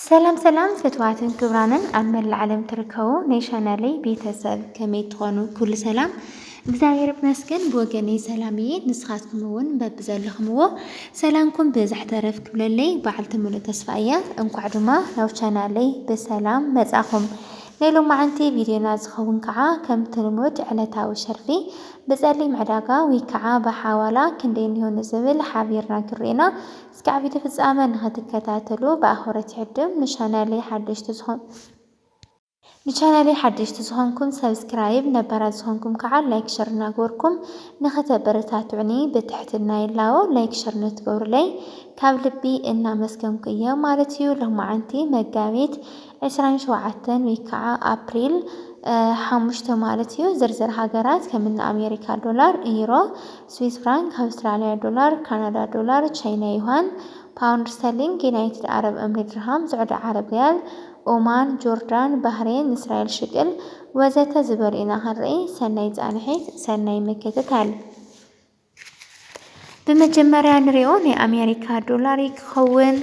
ሰላም ሰላም ፍትዋትን ክብራንን ኣብ መላእ ዓለም ትርከቡ ናይ ቻናለይ ቤተሰብ ከመይ ትኾኑ ኩሉ ሰላም እግዚኣብሔር ይመስገን ብወገነይ ሰላም እየ ንስኻትኩም እውን በብዘለኹምዎ ሰላምኩም ብዝሕ ተረፍ ክብለለይ በዓልቲ ሙሉእ ተስፋ እያ እንኳዕ ድማ ናብ ቻናለይ ብሰላም መጻኹም ናይ ሎማዓንቲ ቪድዮና ዝኸውን ከዓ ከምቲ ልሙድ ዕለታዊ ሸርፊ ብፀሊም ዕዳጋ ወይ ከዓ ብሓዋላ ክንደይ እኒሆ ንዝብል ሓቢርና ክንሪኤና እስካዕ ቪድዮ ፍጻመ ንክትከታተሉ ብኣክብሮት ይዕድም ንቻናለይ ሓደሽቲ ዝኾንኩም ንቻናለይ ሓደሽቲ ዝኾንኩም ሰብስክራይብ ነባራት ዝኾንኩም ከዓ ላይክ ሸር እናገበርኩም ንክተበረታትዑኒ ብትሕትና ይላቦ ላይክ ሸር ንትገብሩለይ ካብ ልቢ እናመስገንኩ እየ ማለት እዩ ሎማዓንቲ መጋቢት ዕስራን ሸውዓተን ወይ ከዓ ኣፕሪል ሓሙሽተ ማለት እዩ ዝርዝር ሃገራት ከም እኒ ኣሜሪካ ዶላር፣ ዩሮ፣ ስዊስ ፍራንክ፣ ኣውስትራሊያ ዶላር፣ ካናዳ ዶላር፣ ቻይና ዩሃን፣ ፓውንድ ስተርሊንግ፣ ዩናይትድ ዓረብ እምሪ ድርሃም፣ ስዑዲ ዓረብ ሪያል፣ ኦማን፣ ጆርዳን፣ ባህሬን፣ እስራኤል ሽቅል ወዘተ ዝበሉ ኢና ክንርኢ። ሰናይ ፃንሒት፣ ሰናይ ምክትታል። ብመጀመርያ ንሪኦ ናይ ኣሜሪካ ዶላር እዩ ክኸውን።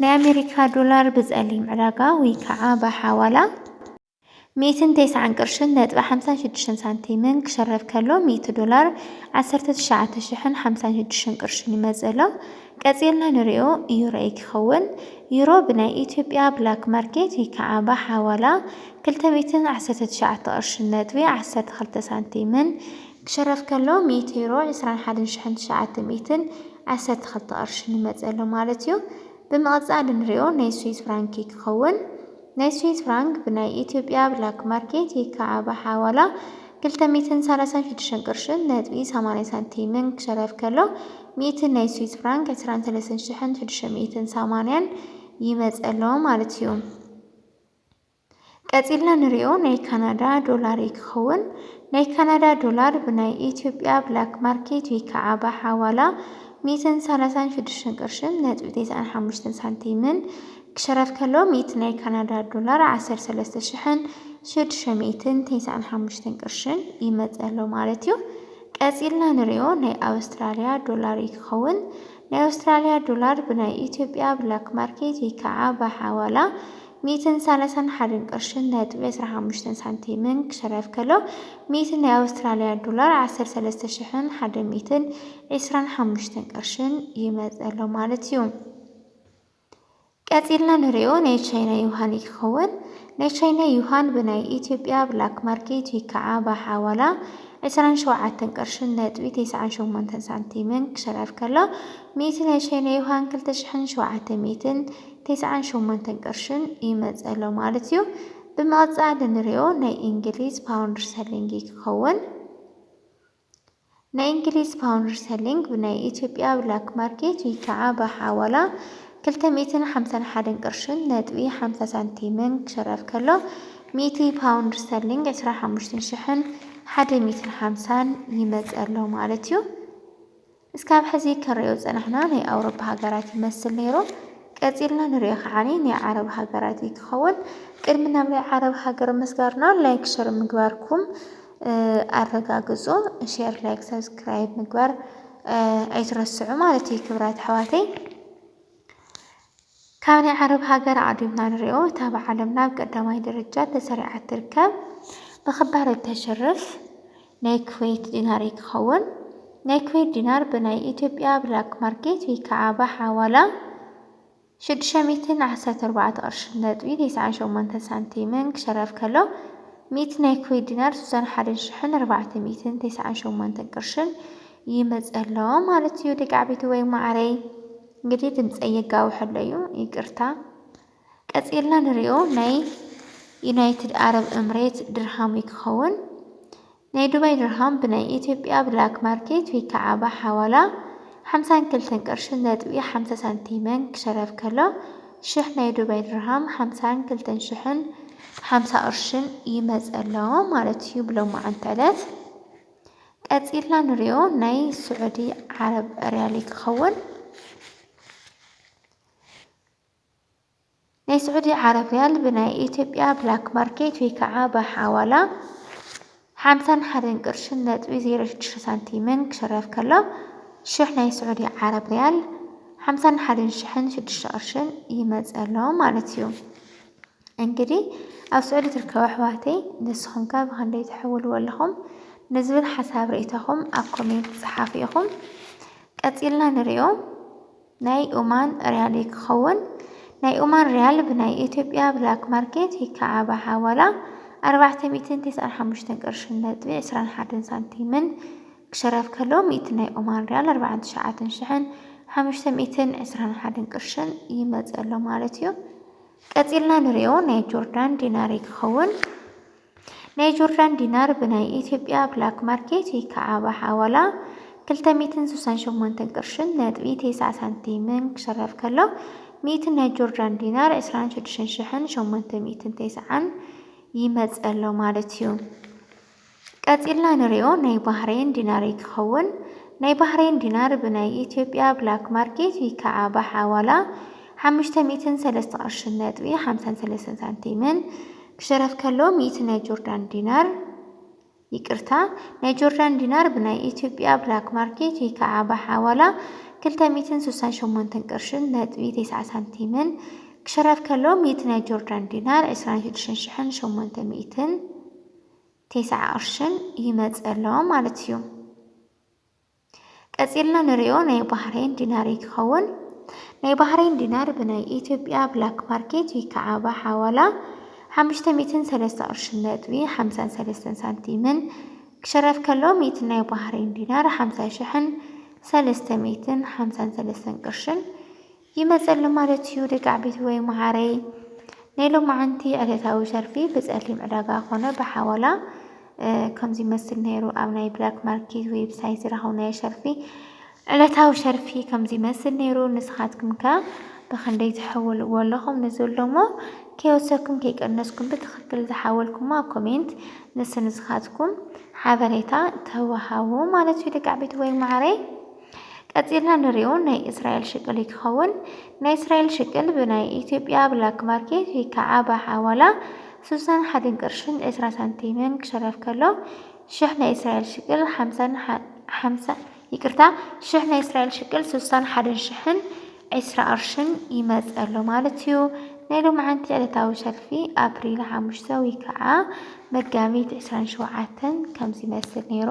ናይ ኣሜሪካ ዶላር ብፀሊም ዕዳጋ ወይ ከዓ ብሓዋላ ሚእትን ተስዓን ቅርሽን ነጥቢ ሓምሳን ሽዱሽተን ሳንቲምን ክሸረፍ ከሎ ሚእቲ ዶላር ዓሰርተ ትሽዓተ ሽሕን ሓምሳን ሽዱሽተን ቅርሽን ይመፅእ ኣሎ። ቀፂልና ንሪኦ ዩሮ እዩ ክኸውን። ዩሮ ብናይ ኢትዮጵያ ብላክ ማርኬት ወይ ከዓ ብሓዋላ ክልተ ሚእትን ዓሰርተ ትሽዓተ ቅርሽን ነጥቢ ዓሰርተ ክልተ ሳንቲምን ክሽረፍ ከሎ ሜቴሮ ዕስራን ሓደን ሽሕን ትሽዓተ ሚእትን ዓሰርተ ክልተ ቅርሺ ንመጸ ኣሎ ማለት እዩ። ብምቕጻል እንሪኦ ናይ ስዊዝ ፍራንክ እዩ ክኸውን። ናይ ስዊዝ ፍራንክ ብናይ ኢትዮጵያ ብላክ ማርኬት ይካዓ ብሓዋላ ክልተ ሚእትን ሰላሳን ሽዱሽተን ቅርሽን ነጥቢ ሰማንያ ሳንቲምን ክሽረፍ ከሎ ሚእቲ ናይ ስዊዝ ፍራንክ ዕስራን ሰለስተን ሽሕን ሽዱሽተ ሚእትን ሰማንያን ይመጸ ኣሎ ማለት እዩ። ቀጺልና ንሪኦ ናይ ካናዳ ዶላር እዩ ክኸውን። ናይ ካናዳ ዶላር ብናይ ኢትዮጵያ ብላክ ማርኬት ወይ ከዓ ብሓዋላ ሚእትን ሰላሳን ሽዱሽተን ቅርሽን ነጥቢ ቴስዓን ሓሙሽተን ሳንቲምን ክሸረፍ ከሎ ሚእቲ ናይ ካናዳ ዶላር ዓሰርተ ሰለስተ ሽሕን ሽዱሽተ ሚእትን ቴስዓን ሓሙሽተን ቅርሽን ይመጽእ ኣሎ ማለት እዩ። ቀጺልና ንሪኦ ናይ ኣውስትራልያ ዶላር እዩ ክኸውን። ናይ ኣውስትራልያ ዶላር ብናይ ኢትዮጵያ ብላክ ማርኬት ወይ ከዓ ብሓዋላ ሚእትን ሳላሳን ሓደን ቅርሽን ነጥቢ ዕስራ ሓሙሽተን ሳንቲምን ክሸረፍ ከሎ፣ ሚእቲ ናይ ኣውስትራልያ ዶላር ዓሰርተ ሰለስተ ሽሕን ሓደን ሚእትን ዕስራን ሓሙሽተን ቅርሽን ይመጽእ ኣሎ ማለት እዩ። ቀጺልና ንርእዮ ናይ ቻይና ዩሃን እዩ ክኸውን። ናይ ቻይና ዩሃን ብናይ ኢትዮጵያ ብላክ ማርኬት ወይ ከዓ ብሓዋላ ዕስራን ሸውዓተን ቅርሽን ነጥቢ ተስዓን ሸሞንተን ሳንቲምን ክሸረፍ ከሎ፣ ሚእቲ ናይ ቻይና ዩሃን ክልተ ሽሕን ሸውዓተ ሚእትን ቴስዓን ሸሞንተን ቅርሽን ይመጽእ ኣሎ ማለት እዩ። ብምቕጻል እንሪኦ ናይ እንግሊዝ ፓውንድ ስተርሊንግ እዩ ክኸውን። ናይ እንግሊዝ ፓውንድ ስተርሊንግ ብናይ ኢትዮጵያ ብላክ ማርኬት ወይ ከዓ ብሓዋላ ክልተ ሚእትን ሓምሳን ሓደን ቅርሽን ነጥቢ ሓምሳ ሳንቲምን ክሽረፍ ከሎ ሚእቲ ፓውንድ ስተርሊንግ ዕስራን ሓሙሽተን ሽሕን ሓደ ሚእትን ሓምሳን ይመጽእ ኣሎ ማለት እዩ። እስካብ ሕዚ ክንሪኦ ዝጸናሕና ናይ ኣውሮፓ ሃገራት ይመስል ነይሩ ቀጺልና ንሪኦ ከዓኒ ናይ ዓረብ ሃገራት እዩ ክኸውን ቅድሚ ናብ ናይ ዓረብ ሃገር ምስጋርና ላይክ ሸር ምግባርኩም ኣረጋግጹ ሼር ላይክ ሰብስክራይብ ምግባር ኣይትረስዑ ማለት እዩ ክብራት ኣሕዋተይ ካብ ናይ ዓረብ ሃገር ኣዕዲምና ንሪኦ እታ ኣብ ዓለምና ኣብ ቀዳማይ ደረጃ ተሰሪዓ እትርከብ ብክባር እተሽርፍ ናይ ኩዌት ዲናር እዩ ክኸውን። ናይ ኩዌት ዲናር ብናይ ኢትዮጵያ ብላክ ማርኬት ወይ ከዓ ብሓዋላ ሽዱሽተ ሚእትን ዓሰርተ ኣርባዕተ ቅርሺ ነጥቢ ተስዓን ሸሞንተን ሳንቲምን ክሸረፍ ከሎ ሚእቲ ናይ ኩዌት ዲናር ስሳን ሓደን ሽሕን ኣርባዕተ ሚእትን ተስዓን ሸሞንተን ቅርሽን ይመፀ ኣሎ ማለት እዩ ደቂ ዓበይቲ ወይ ማዓረይ። እንግዲህ ድምጸይ የጋውሕ ኣሎ እዩ ይቅርታ። ቀጺልና ንሪኦ ናይ ዩናይትድ ኣረብ እምሬት ድርሃም እዩ ክኸውን። ናይ ዱባይ ድርሃም ብናይ ኢትዮጵያ ብላክ ማርኬት ወይ ከዓ ብሓዋላ ሓምሳን ክልተን ቅርሺ ነጥቢ ሓምሳ ሳንቲምን ክሸረፍ ከሎ ሽሕ ናይ ዱባይ ድርሃም ሓምሳን ክልተን ሽሕን ሓምሳ ቅርሽን ይመጸ ኣሎ ማለት እዩ ብሎማዓንቲ ዕለት። ቀጺልና ንሪኦ ናይ ስዑዲ ዓረብ ሪያሊ ክኸውን ናይ ስዑዲ ዓረብ ሪያል ብናይ ኢትዮጵያ ብላክ ማርኬት ወይ ከዓ ብሓዋላ ሓምሳን ሓደን ቅርሽን ነጥቢ ዜሮ ሽዱሽተ ሳንቲምን ክሽረፍ ከሎ ሽሕ ናይ ስዑዲ ዓረብ ሪያል ሓምሳን ሓደን ሽሕን ሽዱሽተ ቅርሽን ይመፀሎ ማለት እዩ። እንግዲ ኣብ ስዑዲ ትርከቡ ኣሕዋተይ ንስኹም ከ ብኸንደይ ትሕውልዎ ኣለኹም ንዝብል ሓሳብ ርኢቶኹም ኣብ ኮሜንት ጸሓፉ ኢኹም ቀጺልና ንሪኦ ናይ ኡማን ሪያል እዩ ክኸውን ናይ ኡማን ሪያል ብናይ ኢትዮጵያ ብላክ ማርኬት ይከዓባ ሓዋላ ኣርባዕተ ሚእትን ቴስዓን ሓሙሽተን ቅርሽን ነጥቢ ዕስራን ሓደን ሳንቲምን ክሸረፍ ከሎ ሚእቲ ናይ ኡማን ሪያል ኣርባዓን ትሽዓትን ሽሕን ሓሙሽተ ሚእትን ዕስራን ሓደን ቅርሽን ይመጽእ ኣሎ ማለት እዩ ቀጺልና ንሪኦ ናይ ጆርዳን ዲናር ክኸውን። ናይ ጆርዳን ዲናር ብናይ ኢትዮጵያ ብላክ ማርኬት ወይ ከዓ ብሓዋላ ክልተ ሚእትን ስሳን ሸሞንተን ቅርሽን ነጥቢ ቴስዓ ሳንቲምን ክሸረፍ ከሎ ሚእቲ ናይ ጆርዳን ዲናር ዕስራን ሽዱሽተን ሽሕን ሸሞንተ ሚእትን ቴስዓን ይመጸሎ ማለት እዩ። ቀጺልና ንሪኦ ናይ ባህሬን ዲናር'ዩ ክኸውን። ናይ ባህሬን ዲናር ብናይ ኢትዮጵያ ብላክ ማርኬት ዊከዓ ብሓዋላ ሓሙሽተ ሚእትን ሰለስተ ቅርሽን ነጥቢ ሓምሳን ሰለስተን ሳንቲምን ክሽረፍ ከሎ ሚእቲ ናይ ጆርዳን ዲናር ይቅርታ ናይ ጆርዳን ዲናር ብናይ ኢትዮጵያ ብላክ ማርኬት ዊከዓ ብሓዋላ ክልተ ሚእትን ስሳን ሸሞንተን ቅርሽን ነጥቢ ተስዓ ሳንቲምን ክሽረፍ ከሎ ሚእቲ ናይ ጆርዳን ዲናር ዕስራን ሽዱሽተን ሽሕን ሸሞንተ ሚእትን ቴስዓ ቅርሽን ይመጽእ ኣሎ ማለት እዩ። ቀጺልና ንሪኦ ናይ ባህሬን ዲናር እዩ ክኸውን። ናይ ባህሬን ዲናር ብናይ ኢትዮጵያ ብላክ ማርኬት ወይ ከዓ ብሓዋላ ሓሙሽተ ሚእትን ሰለስተ ቅርሽን ነጥቢ ሓምሳን ሰለስተን ሳንቲምን ክሽረፍ ከሎ ሚእቲ ናይ ባህሬን ዲናር ሓምሳ ሽሕን ሰለስተ ሚእትን ሓምሳን ሰለስተን ቅርሽን ይመጽእ ኣሎ ማለት እዩ ደቂ ዓበይቲ ወይ መዓረይ ናይ ሎማዓንቲ ዕለታዊ ሸርፊ ብጸሊም ዕዳጋ ኮነ ብሓዋላ ከምዚ ይመስል ነይሩ ኣብ ናይ ብላክ ማርኬት ዌብሳይት ዝረኸብናዮ ሸርፊ ዕለታዊ ሸርፊ ከምዚ ይመስል ነይሩ ንስኻትኩም ከ ብክንደይ ትሕውልዎ ኣለኹም ንዘሎሞ ከይወሰኩም ከይቀነስኩም ብትኽክል ዝሓወልኩሞ ኣብ ኮሜንት ንስንስኻትኩም ሓበሬታ ተዋሃቡ ማለት እዩ ደቂ ዓበይቲ ወይ መዓረይ ቀጺልና ንሪኦ ናይ እስራኤል ሽቅል እዩ ክኸውን። ናይ እስራኤል ሽቅል ብናይ ኢትዮጵያ ብላክ ማርኬት ወይ ከዓ ብሓዋላ ስሳን ሓደን ቅርሽን ዕስራ ሳንቲምን ክሸረፍ ከሎ ሽሕ ናይ እስራኤል ሽቅል ሓምሳን ሓምሳ ይቅርታ ሽሕ ናይ እስራኤል ሽቅል ስሳን ሓደን ሽሕን ዕስራ ቅርሽን ይመጽእ ኣሎ ማለት እዩ። ናይ ሎምዓንቲ ዕለታዊ ሰልፊ ኣፕሪል ሓሙሽተ ወይ ከዓ መጋቢት ዕስራን ሸውዓተን ከምዚ ይመስል ነይሩ።